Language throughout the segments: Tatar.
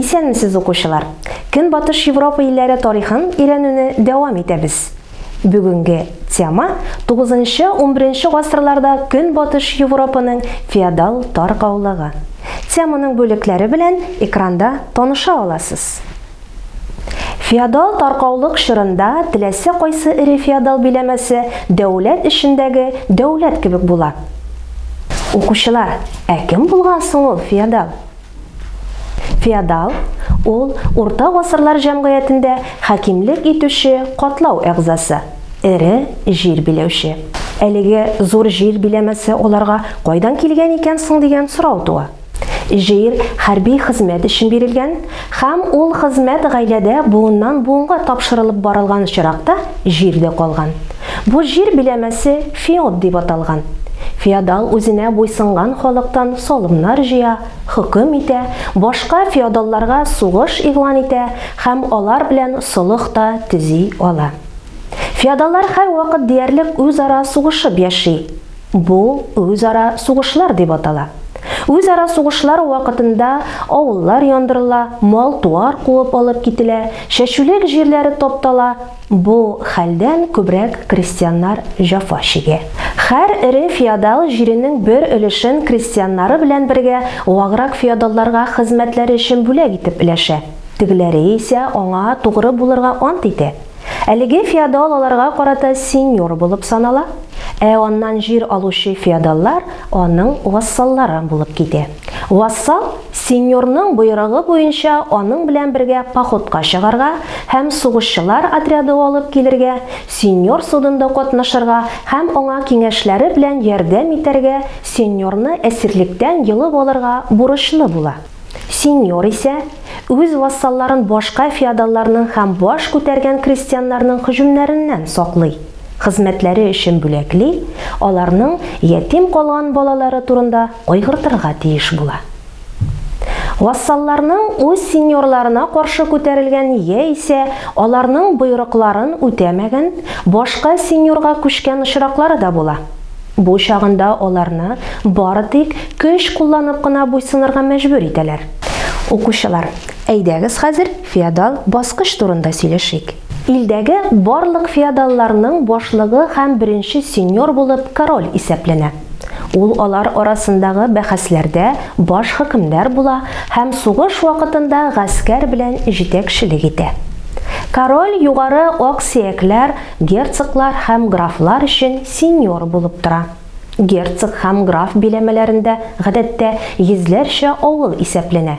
Исәнмесез укучылар! Көнбатыш Европа илләре тарихын өйрәнүне дәвам итәбез. Бүгенге тема, тугызынчы-унберенче гасырларда Көнбатыш Европаның феодал таркаулыгы. Теманың бүлекләре белән экранда таныша аласыз. Феодал таркаулык чорында теләсә кайсы эре феодал биләмәсе дәүләт эчендәге дәүләт кебек була. Укучылар, ә кем булган соң ул феодал? Феодал, ул урта гасырлар җәмгыятендә хакимлек итүче катлау әгъзасы, эре җир биләүче. Әлеге зур җир биләмәсе аларга кайдан килгән икән соң дигән сорау туа. Җир хәрби хезмәт өчен бирелгән һәм ул хезмәт гаиләдә буыннан-буынга тапшырылып барылган очракта җирдә калган. Бу җир биләмәсе феод дип аталган. Феодал үзенә буйсынган халыктан салымнар җыя, хөкем итә, башка феодалларга сугыш игълан итә һәм алар белән солых та төзи ала. Феодаллар һәрвакыт диярлек үзара сугышып яши. Бу үзара сугышлар дип атала. Үзара сугышлар вакытында авыллар яндырыла, мал-туар куып алып кителә, чәчүлек җирләре таптала, Бу хәлдән күбрәк крестьяннар җафа чигә. Хәр эре феодал җиренең бер өлешен крестьяннары белән бергә ваграк феодалларга хезмәтләре өчен бүләк итеп өләшә, тегеләре исә аңа тугры булырга ант итә. Әлеге феодал аларга карата сеньор булып санала, ә аннан җир алучы феодаллар аның вассаллары булып китә. Вассал сеньорның боерыгы буенча аның белән бергә походка чыгарга һәм сугышчылар отряды алып килергә, сеньор судында катнашырга һәм аңа киңәшләре белән ярдәм итәргә, сеньорны әсирлектән йолып алырга бурычлы була. Сеньор исә, үз вассалларын башка феодалларның һәм баш күтәргән крестьяннарның һөҗүмнәреннән саклый, хезмәтләре өчен бүләкли, аларның ятим калган балалары турында кайгыртырга тиеш була. Вассалларның үз сеньорларына каршы күтәрелгән яисә аларның боерыкларын үтәмәгән, башка сеньорга күчкән очраклары да була. Бу чагында аларны бары тик көч кулланып кына буйсынырга мәҗбүр итәләр. Укучылар, әйдәгез хәзер феодал баскыч турында сөйләшик. Илдәге барлык феодалларның башлыгы һәм беренче сеньор булып король исәпләнә. Ул алар арасындагы бәхәсләрдә баш хөкемдар була һәм сугыш вакытында гаскәр белән җитәкчелек итә. Король югары аксөякләр, герцоглар һәм графлар өчен сеньор булып тора. Герцог һәм граф биләмәләрендә, гадәттә, йөзләрчә авыл исәпләнә.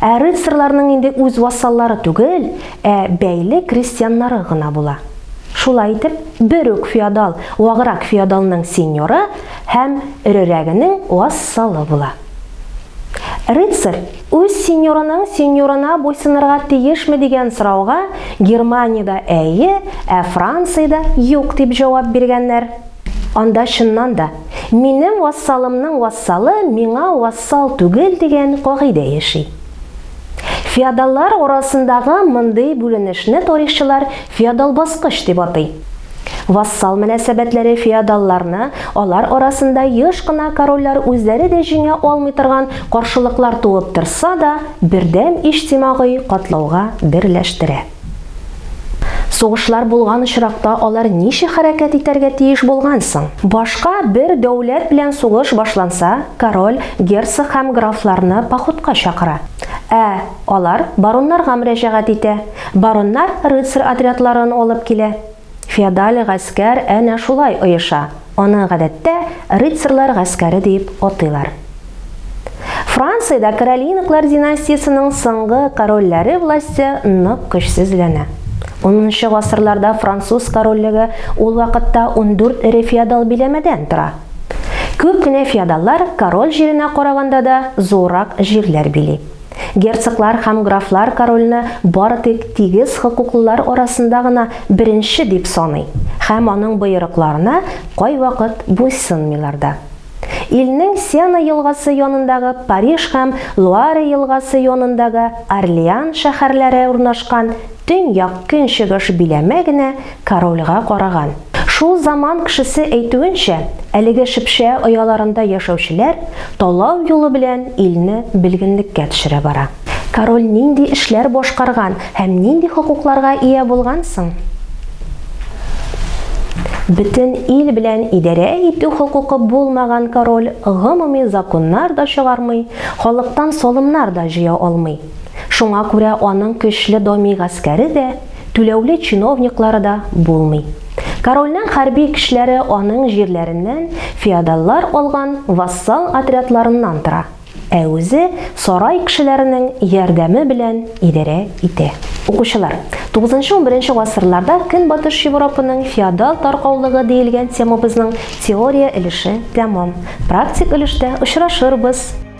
Ә рыцарьларның инде үз вассаллары түгел, ә бәйле крестьяннары гына була. Шулай итеп, бер үк феодал ваграк феодалның сеньоры һәм эрерәгенең вассалы була. Рыцарь үз сеньорының сеньорына буйсынырга тиешме дигән сорауга Германиядә әйе, ә Франциядә юк дип җавап биргәннәр. Анда чыннан да Минем вассалымның вассалы миңа вассал түгел дигән кагыйдә яши. Феодаллар арасындагы мондый бүленешне тарихчылар феодал баскыч дип атый. Вассал мөнәсәбәтләре феодалларны алар арасында еш кына корольләр үзләре дә җиңә алмый торган каршылыклар туып торса да, бердәм иҗтимагый катлауга берләштерә. Сугышлар булган очракта алар ничек хәрәкәт итәргә тиеш булган соң? Башка бер дәүләт белән сугыш башланса, король герцог һәм графларны походка чакыра. Ә алар бароннарга мөрәҗәгать итә. Бароннар рыцарь отрядларын алып килә. Феодаль гаскәр әнә шулай оеша, аны гадәттә рыцарьлар гаскәре дип атыйлар. Франциядә Каролинаклар династиясенең соңгы корольләре власте нык көчсезләнә. Унынчы гасырларда француз корольлеге ул вакытта ундүрт эре феодал биләмәдән тора. Күп кенә феодаллар король җиренә караганда да зуррак җирләр били. Герцоглар һәм графлар корольне бары тик тигез хокуклылар арасында гына беренче дип саный һәм аның боерыкларына кайвакыт буйсынмыйлар да. Илнең Сена елгасы янындагы Париж һәм Луаре елгасы янындагы Орлеан шәһәрләре урнашкан Төньяк-көнчыгыш биләмә генә корольгә караган. Шул заман кешесе әйтүенчә, әлеге шепшә ояларында яшәүчеләр талау юлы белән илне белгенлеккә төшерә бара. Король нинди эшләр башкарган һәм нинди хокукларга ия булган соң? Бөтен ил белән идарә итү хокукы булмаган король гомуми законнар да чыгармый, халыктан салымнар да җыя алмый. Шуңа күрә аның көчле доми гаскәре дә, түләүле чиновниклары да булмый. Корольнең хәрби көчләре аның җирләреннән феодаллар алган вассал отрядларыннан тора, ә үзе сарай кешеләренең ярдәме белән идарә итә. Укучылар, тугызынчы-унберенче гасырларда Көнбатыш Европаның феодал таркаулыгы диелгән темабызның теория өлеше тәмам. Практик өлештә очрашырбыз!